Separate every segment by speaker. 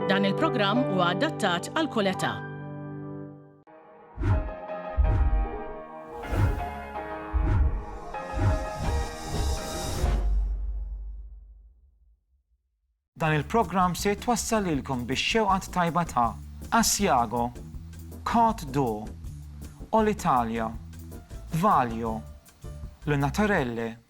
Speaker 1: Dan il-programm huwa adattat għal kull età. Dan il-programm se jitwassal lilkom biex xewqat tajba ta' Asiago, Cart Do, All Italia, Valio, Lunatarelle,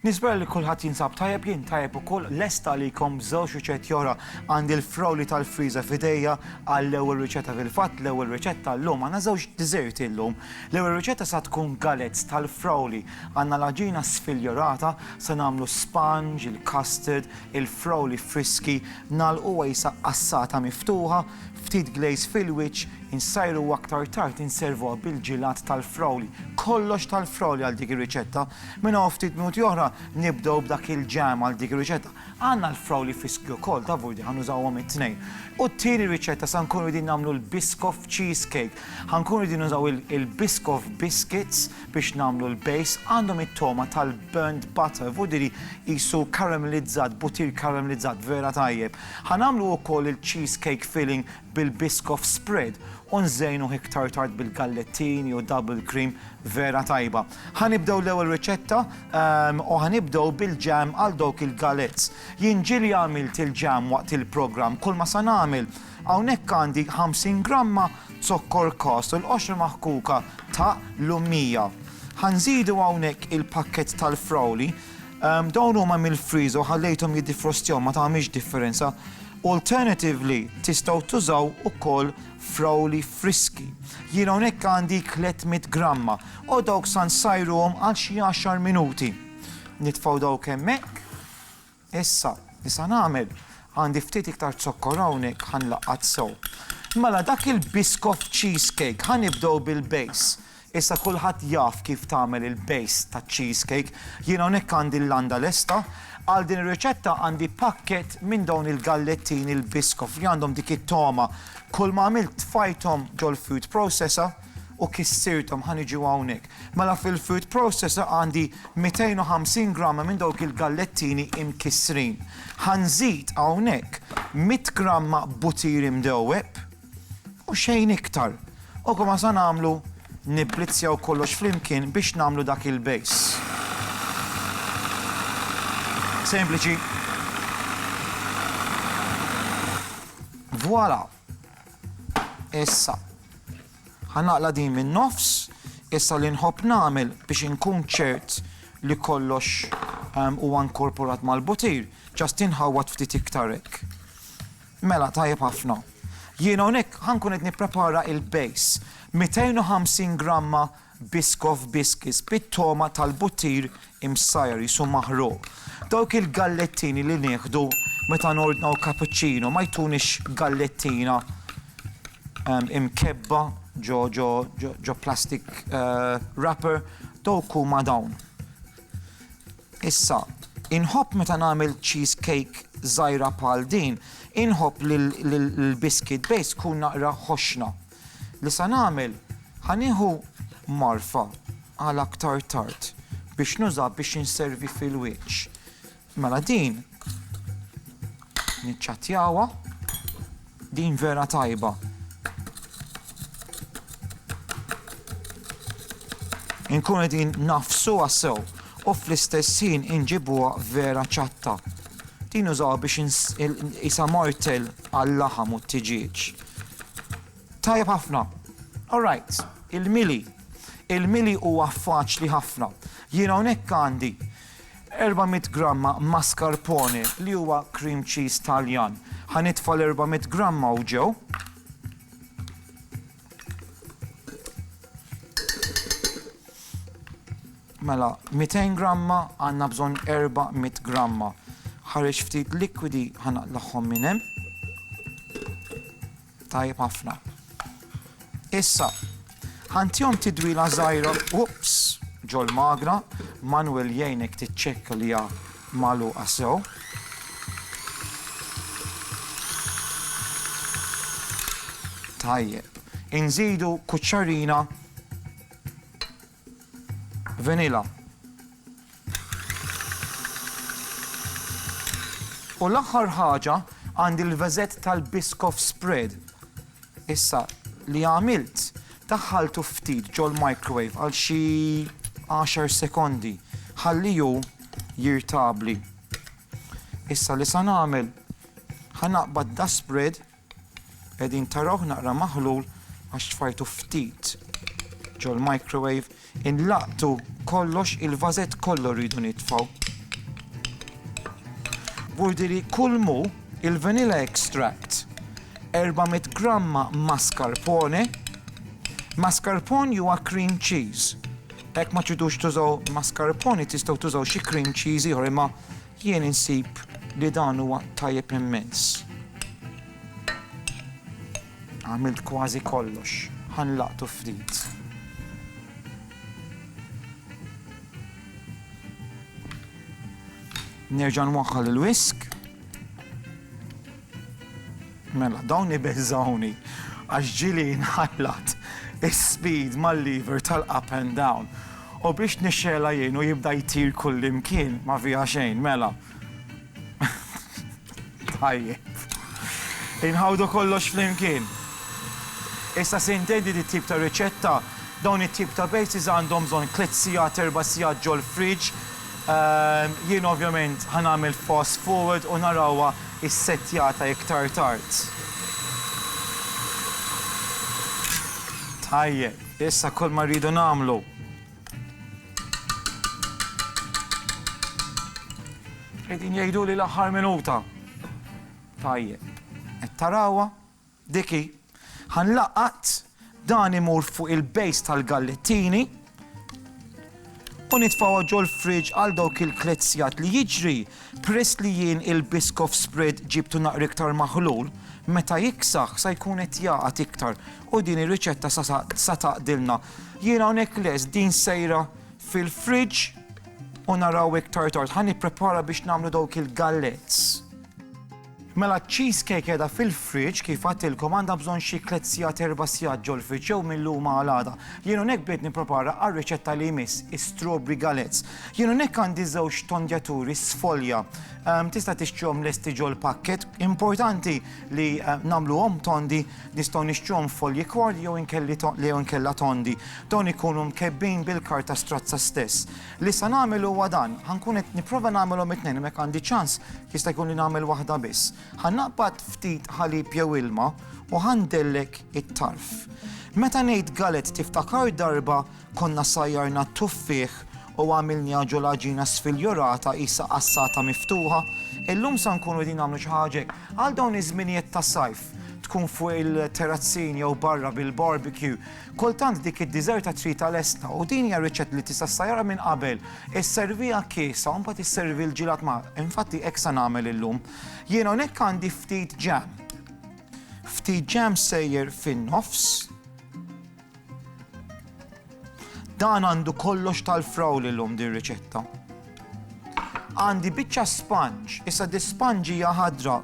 Speaker 1: Nispera li kulħadd jinsab tajjeb, jien tajjeb ukoll, lest għalikom b'żewġ riċetti oħra. Għandi l-frawli tal-friża f'idejja għall-ewwel riċetta fil-fatt, l-ewwel riċetta llum. Għandna żewġ diżerti llum. L-ewwel riċetta sa tkun galets tal-frawli. Għandna l-għaġina sfiljorata, se nagħmlu sponge, il-custard, il-frawli friski, nagħlquha jisa qassata miftuħa, ftit glaze fil-wiċċ, insajruha aktar tard inservuha bil-ġilat tal-frawli. Kollox tal-frawli għal dik ir-riċetta. Minn hawn ftit minuti oħra nibdew b'dak il-ġam għal dik ir-riċetta. Għandna l-frawli friski wkoll ta' vurdi ħa nużawhom it-tnejn. U t-tieni riċetta sa nkunu qegħdin nagħmlu l-Biscoff cheesecake. Ħa nkunu qegħdin nużaw il-Biscoff biscuits biex nagħmlu l-base. Għandhom it-togħma tal-burnt butter, vurdi li qisu karamelizzat, butir karamelizzat vera tajjeb. Ħa nagħmlu wkoll il-cheesecake filling bil-Biscoff spread u nżejnuh iktar tard bil-gallettini u double cream vera tajba. Ħa nibdew l-ewwel riċetta u ħa nibdew bil-jam għal dawk il-galettes. Jien ġieli għamilt il-jam waqt il-programm, kulma sa nagħmel. Hawnhekk għandi 50 gramma zokkor kast u l-qoxra maħkuka ta' l-ummija. Ħa nżidu hawnhekk il-pakkett tal-frawli. Dawn huma mill-freezer u ħallejthom jiddifrostjaw ma tagħmilx differenza. Alternatively tistgħu tużaw ukoll frawli friski. Jien hawnhekk għandi 300 gramma U dawk sa nsajruhom għal xi għaxar minuti. Nitfgħu dawk hemmhekk. Issa, li sa nagħmel? Għandi ftit iktar zokkor hawnhekk ħa nlaqqat sew. Mela dak il-biscoff cheese cake ħa nibdew bil-base. Issa kulħadd jaf kif tagħmel il-base taċ-cheese cake. Jien hawnhekk għandi l-landa lesta. Għal din ir-riċetta għandi pakkett minn dawn il-gallettini l-biscoff li għandhom dik it-togħma. Kulma għamilt tfajthom ġol-food processor. u kissirthom ħa niġu hawnhekk. Mela fil-food processor għandi 250 gramma minn dawk il-gallettini imkissrin. Ħa nżid hawnhekk 100 gramma butir imdewweb u xejn iktar. U komma sa nagħmlu nibblizzjaw kollox flimkien biex nagħmlu dak il-base. Sempliċi. Voilà! Issa, ħa naqla' din min-nofs. Issa li nħobb nagħmel biex inkun ċert li kollox huwa nkorporat mal-butir, ġast inħawwad ftit iktar hekk. Mela, tajjeb ħafna. Jiena hawnhekk ħa nkun qed nipprepara il-base. 250 gramma Biscoff biscuits bit-togħma tal-buttir imsajjar qisu maħruq. Dawk il-gallettini li nieħdu meta nordnaw cappuccino ma jtunix gallettina imkebbha ġo ġo ġo plastic wrapper, dawk huma dawn. Issa, inħobb meta nagħmel cheese cake żgħira bħal din, inħobb li l-biscuit base tkun naqra ħoxna. Li sa nagħmel, ħa nieħu marfa għal aktar tard biex nuża biex inservi fil-wieċ. Mela din niċċattjawha, din vera tajba. Inkun qegħdin nafsuha sew u fl-istess ħin inġibuha vera ċatta. Din użaw biex isa martel għal-laħam u t-tiġieġ. Tajjeb ħafna. All right, il-mili. Il-mili huwa faċli ħafna. Jien hawnhekk għandi 400 gramma mascarpone li huwa cream cheese Taljan. Ħanitfa l-400 gramma u ġew. Mela, 200 gramma għandna bżonn 400 gramma. Ħareġ ftit likwidi ħa naqlagħhom minn hemm. Tajjeb ħafna. Issa, ħantihom tidwila żgħira, ups, ġol-magra, Manuel jgħinek tiċċekka li hija magħluqa sew. Tajjeb. Inżidu kuċċarina Vanilla. U l-aħħar ħaġa għandi l-vażett tal-Biscoff spread. Issa li għamilt, daħħaltu ftit ġol-microwave għal xi għaxar sekondi ħalliehu jirtabli. Issa li sa nagħmel, ħa naqbad das-spread, Qegħdin tarawh naqra maħlul għax tfajtu ftit ġol-microwave, inlaqtu kollox il-vażett kollu rridu nitfgħu. Vurdili kull mu il-vanilla extract 400 gramma mascarpone, mascarpone huwa cream cheese. Hekk ma tridux tużaw mascarpone tistgħu tużaw xi cream cheese ieħor imma Jien insib li dan huwa tajjeb immens. Għamilt kważi kollox, ħa nlaqtu ftit. Nerġa' nwaħħal il-whisk. Mela, dawn ibeżżgħuni għax ġieli jinħallat is-speed mal-lever tal-up and down u biex nixxegħelha jien u jibda jtir kullimkien ma fiha xejn, mela. Tajjeb. Inħawdu kollox flimkien. Issa se intendi di tip ta' riċetta, dawn it-tip ta' bases għandhom bżonn tliet sigħat, erba' sigħat ġol-fridge, Jien ovvjament ħa nagħmel fast forward u narawha ssettjata iktar tard. Tajjeb, issa kull ma rridu nagħmlu Qegħdin jgħiduli l-aħħar minuta. Tajjeb, qed tarawha? Dik hi. Ħa nlaqqat dan imur fuq il-base tal-gallettini u nitfgħuha ġol-fridge għal dawk il-tliet sigħat li jiġri peress li jien il-Biscoff spread ġibtu naqra iktar maħlul, meta jiksaħ sa jkun qed jagħqad iktar u din ir-riċetta sa taqdilna. Jien hawnhekk lest din sejra fil-fridge u naraw iktar tard. Ħa nipprepara biex nagħmlu dawk il-gallets. Mela ċ-cheese cake qiegħda fil-fridge, kif għadtilkom għandha bżonn xi tliet sigħat erba' sigħat ġol-fridge jew mil-lum għal għada. Jien hawnhekk bdejt nipprepara għar-riċetta li jmiss, is-strawberry galettes. Jien hawnhekk għandi żewġ tondjaturi sfolja. Tista' tixtrihom lesti ġol-packet. Importanti li nagħmluhom tondi, nistgħu nixtruhom folji kwarli jew inkella tondi. Dawn ikunu mkebbin bil-karta strazza stess. Li se nagħmel huwa dan, ħa nkun qed nipprova nagħmilhom it-tnejn imma jekk għandi ċans jista' jkun li nagħmel waħda biss. Ħa naqbad ftit ħalib jew ilma u ħa ndellek it-tarf. Meta ngħid galet tiftakar darba konna sajjarna t-tuffieħ u għamilniha ġo l-għaġina sfiljorata qisha qassata miftuħa? Illum se nkunu qegħdin nagħmlu xi ħaġa hekk. Għal dawn iż-żminijiet tas-sajf tkun fuq il-terrazzin jew barra bil-barbecue, Kultant dik id-diżerta tridha lesta u din hija riċett li tista' ssajjarha minn qabel. Isserviha kiesha u mbagħad isservi l-ġilat magħha. Infatti hekk se nagħmel illum. Jien hawnhekk għandi ftit ġam. Ftit ġam sejjer fin-nofs. Dan għandu kollox tal-frawl illum din riċetta. Għandi biċċa sponge, issa di sponge hija ħadra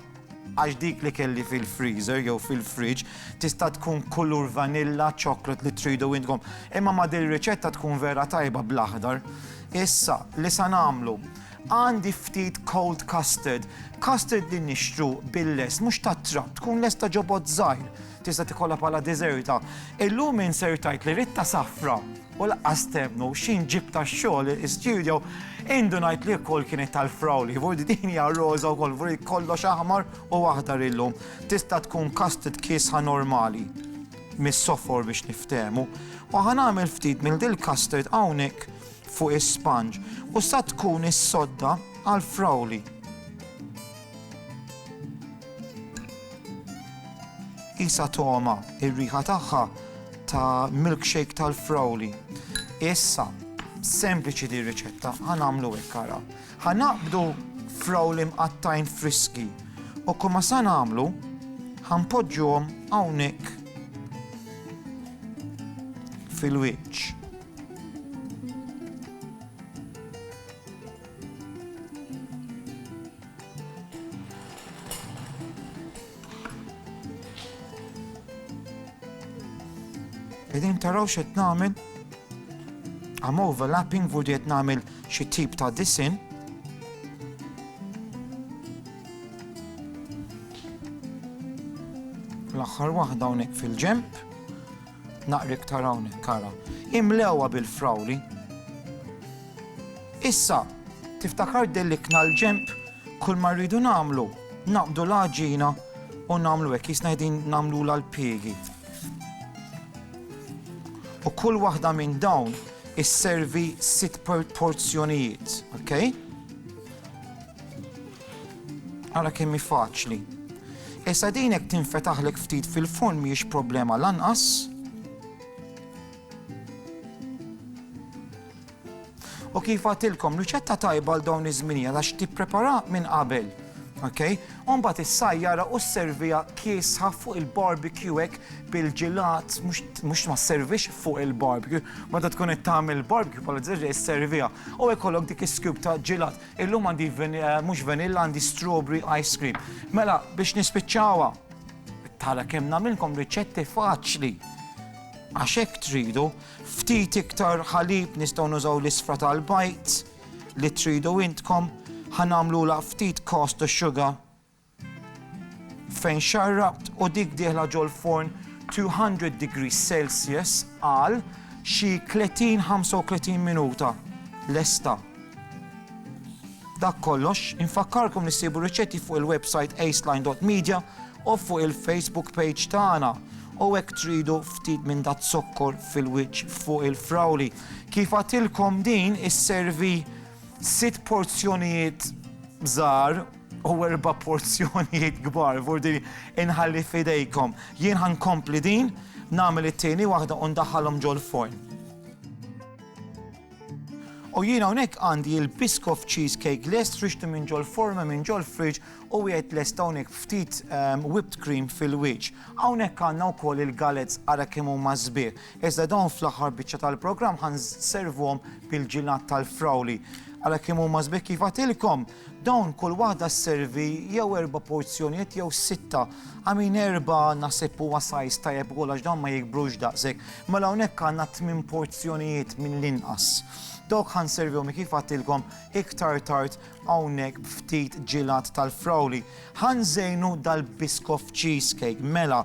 Speaker 1: għax dik li kelli fil-freezer jew fil-fridge tista' tkun kulur vanilla, ċoklat li tridu intkom. Imma ma dil riċetta tkun vera tajba bl-aħdar. Issa, li sa nagħmlu, għandi ftit cold custard, custard li nixtru bil-les, mhux tat-trab, tkun lesta ġobot żgħir. Tista' tikollha bħala deżerta. Illum min ser tgħid li Ritta Safra u laqqas temmnu x'in ġib tax-xogħol istudjo, indu ngħid li wkoll kienet tal-frawli, vurdi din hija roża wkoll, vurdi kollox aħmar u aħdar illum. Tista' tkun kastit kiesħa normali mis-sofor biex niftehmu. U ħanagħmel ftit mill dil kastard hawnhekk fuq is-sponge u sa tkun is-sodda għal frawli. Qisha togħma r-riħa tagħha ta' milkshake tal-frawli. Issa, sempliċi din riċetta, ħa nagħmlu hekk ara. Ħa naqbdu frawli mqattajn friski u kumma sa nagħmlu ħa npoġġuhom hawnhekk fil-wiċċ. Qegħdin taraw x'qed nagħmel? Am overlapping vu qed nagħmel xi tip ta' disin. L-aħħar waħda hawnhekk fil-ġemp. Naqra iktar hawnhekk ara. Imlewha bil-frawli. Issa, tiftakar delikna l-ġenb, kull ma rridu nagħmlu, naqbdu l-għaġina u nagħmlu hekk jisna qegħdin nagħmlula l-piegi. U kull waħda minn dawn isservi sitt porzjonijiet, ok? Ara kemm hi faċli. Issa din jekk tinfetaħlek ftit fil-furn mhijiex problema lanqas. U kif għatilkom, riċetta tajba għal dawn iż-żminija għax tipprepara minn qabel. Ok? Umbat is-sajjara u s-servija kiesħa fuq il-barbecue hekk bil-ġilat, mhux ma servix fuq il-barbecue, ma da tkun qed tagħmel barbecue bħal ġerri s-servija. U jkollok dik is-skub ta' ġilat. Illum għandi mhux vanilla għandi strawberry ice cream. Mela biex nispiċċawha. Tara kemm nagħmilkom riċetti faċli. Għax hekk tridu, ftit iktar ħalib nistgħu nużaw l-isfra tal-bajt li tridu intkom, ħanamlu la ftit cost u sugar fejn xarrabt u dik dieħla ġol-forn 200 degrees Celsius għal xi 30-35 minuta lesta. Dak kollox, infakkarkom li ssibu riċetti fuq il-website aceline.media u fuq il-Facebook page tagħna u hekk tridu ftit minn dat zokkor fil-wiċċ fuq il-frawli. Kif għatilkom din isservi sitt porzjonijiet żgħar u erba' porzjonijiet kbar, vordi inħalli f'idejkom. Jien ħankompli din, nagħmel it-tieni waħda u ndaħħalhom ġol-forn. U jien hawnhekk għandi il-Biscoff Cheesecake lest frixtu minn ġol forma minn ġol fridge u wieħed lest hawnhekk ftit ehm, whipped cream fil-wiċċ. Hawnhekk għandna wkoll il-galets ara kemm huma sbieħ. Iżda dawn fl-aħħar biċċa tal-programm ħan servuhom bil-ġilat tal-frawli. Ara kemm huma sbieħ kif għatilkom. Dawn kull waħda sservi jew erba' porzjonijiet jew sitta. I mean erba' naħseb huwa size tajjeb ukoll għax dawn ma jikbrux daqshekk. Mela hawnhekk għandna tmien porzjonijiet mill-inqas. Dawk ħa nservihom kif għadtilkom iktar tard hawnhekk b'ftit ġilat tal-frawli. Ħa nżejnu dal-Biscoff cheesecake. Mela,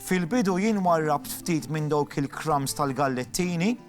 Speaker 1: fil-bidu jien warrabt ftit minn dawk il-crumbs tal-gallettini.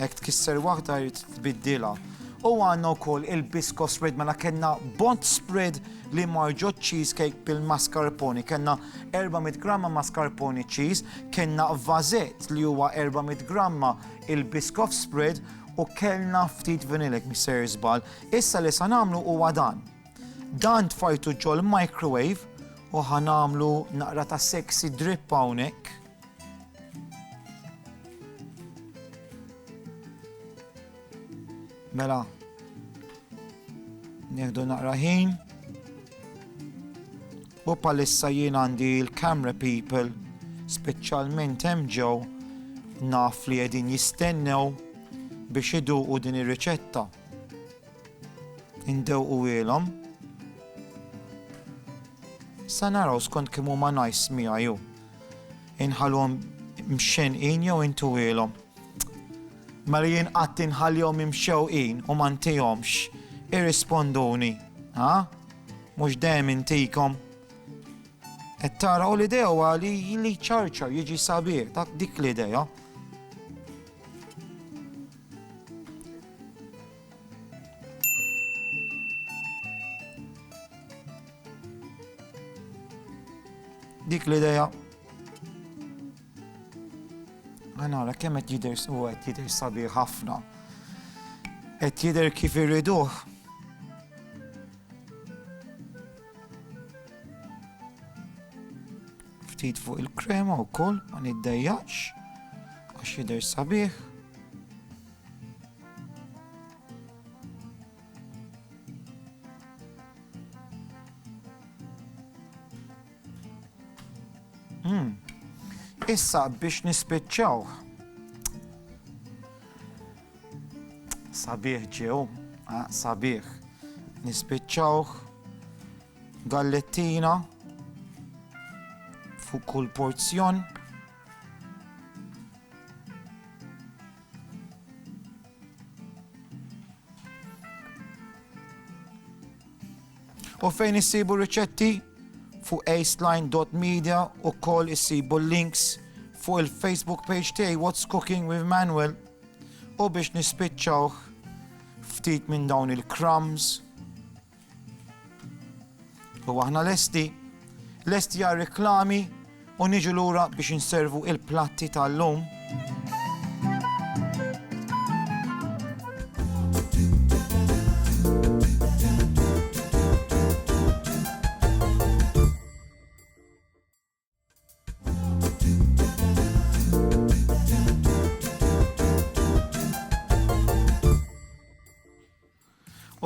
Speaker 1: Hekk tkisser waħda jrid tbiddilha. U għandna wkoll il-bisko spread mela kellna bond spread li marġo cheesecake bil-mascarpone. Kellna 400 gramma mascarpone cheese, kellna vazet li huwa 400 gramma il-biskof spread u kellna ftit vanilek misser żbal. Issa li sa nagħmlu huwa dan. Dan tfajtu ġol microwave u ħanamlu naqra ta' sexy drip hawnhekk. Mela, nieħdu naqra ħin. U palissa jien għandi l-camera people, speċjalment hemm ġew naf li qegħdin jistennew biex iduqu din ir-riċetta. Indewqu ilhom. Sa naraw skont kemm huma nice miegħu. Inħallhom mxenqin jew intuwielhom? Mela jien qatt inħallihom imxewqin u ma ntihomx. Irrisponduni, ha? Mhux dejjem intikom. Qed tara u l-idea huwa li li ċarċar jiġi sabiħ, dak dik l-idea. Dik l-ideja. Għanara, kemm qed jidher u qed jidher sabiħ ħafna. Qed jidher kif irriduh. Ftit fuq il-krema wkoll ma niddejjaqx għax jidher sabiħ. Hmm. Issa biex nispiċċaw. Sabiħ ġew, ah, sabiħ. Nispiċċaw gallettina fuq kull porzjon. U fejn issibu riċetti? Fuq aceline.media u koll issibu links fuq il-Facebook page tiegħi What's Cooking with Manuel u biex nispiċċawh ftit minn dawn il-crumbs U aħna lesti, lesti għal reklami u niġu lura biex inservu il-platti tal-lum.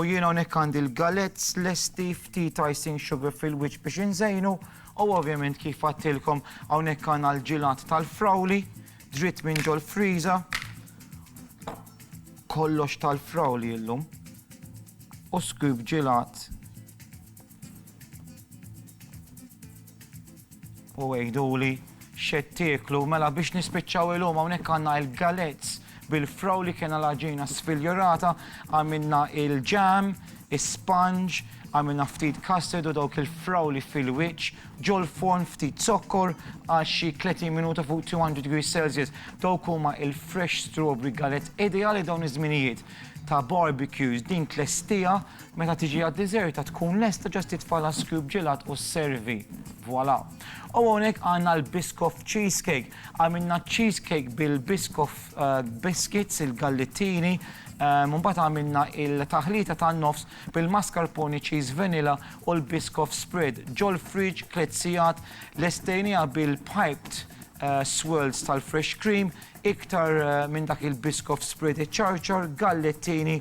Speaker 1: U jiena hawnhekk għandi l-galets lesti ftit icing sugar fil-wiċċ biex inżejnu u ovvjament kif għattilkom hawnhekk għandna l-ġilat tal-frawli dritt minn ġol friża kollox tal-frawli illum u skub ġilat U għiduli x'qed tieklu, mela biex nispiċċaw illum hawnhekk għandna il-galets bil-fraw li kena l-għaġina sfiljorata, għamilna il-ġam, is-sponge, għamilna ftit custard u dawk il-fraw li fil-wiċċ, ġol-forn ftit zokkor għal xi 30 minuta fuq 200 degrees Celsius. Dawk huma il-fresh strawberry galets ideali dawn iż-żminijiet ta' barbecues din tlestija Meta tiġi għad-diżerta tkun lesta ġast titfa' l-ice cube ġelat u sservi. Voilà! U hawnhekk għandna l-Biscoff Cheesecake. Għamilna cheesecake bil-Biscoff biscuits, il-gallettini, u mbagħad għamilna il-taħlita tan-nofs bil-mascarpone cheese vanilla u l-Biscoff spread. Ġol-fridge tliet sigħat, lestejniha bil-piped swirls tal-fresh cream, iktar minn dak il-Biscoff spread iċċarċar, gallettini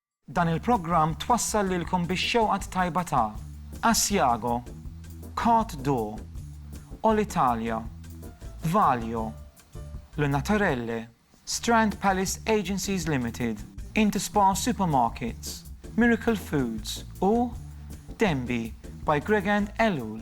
Speaker 1: Dan il-programm twassal lilkom bix-xewqa t-tajba ta' Asiago, Côte d'Or, Olitalia, Valio, Le Naturelle, Strand Palace Agencies Limited, Interspar Supermarkets, Miracle Foods u Denby by Gregand Ellul.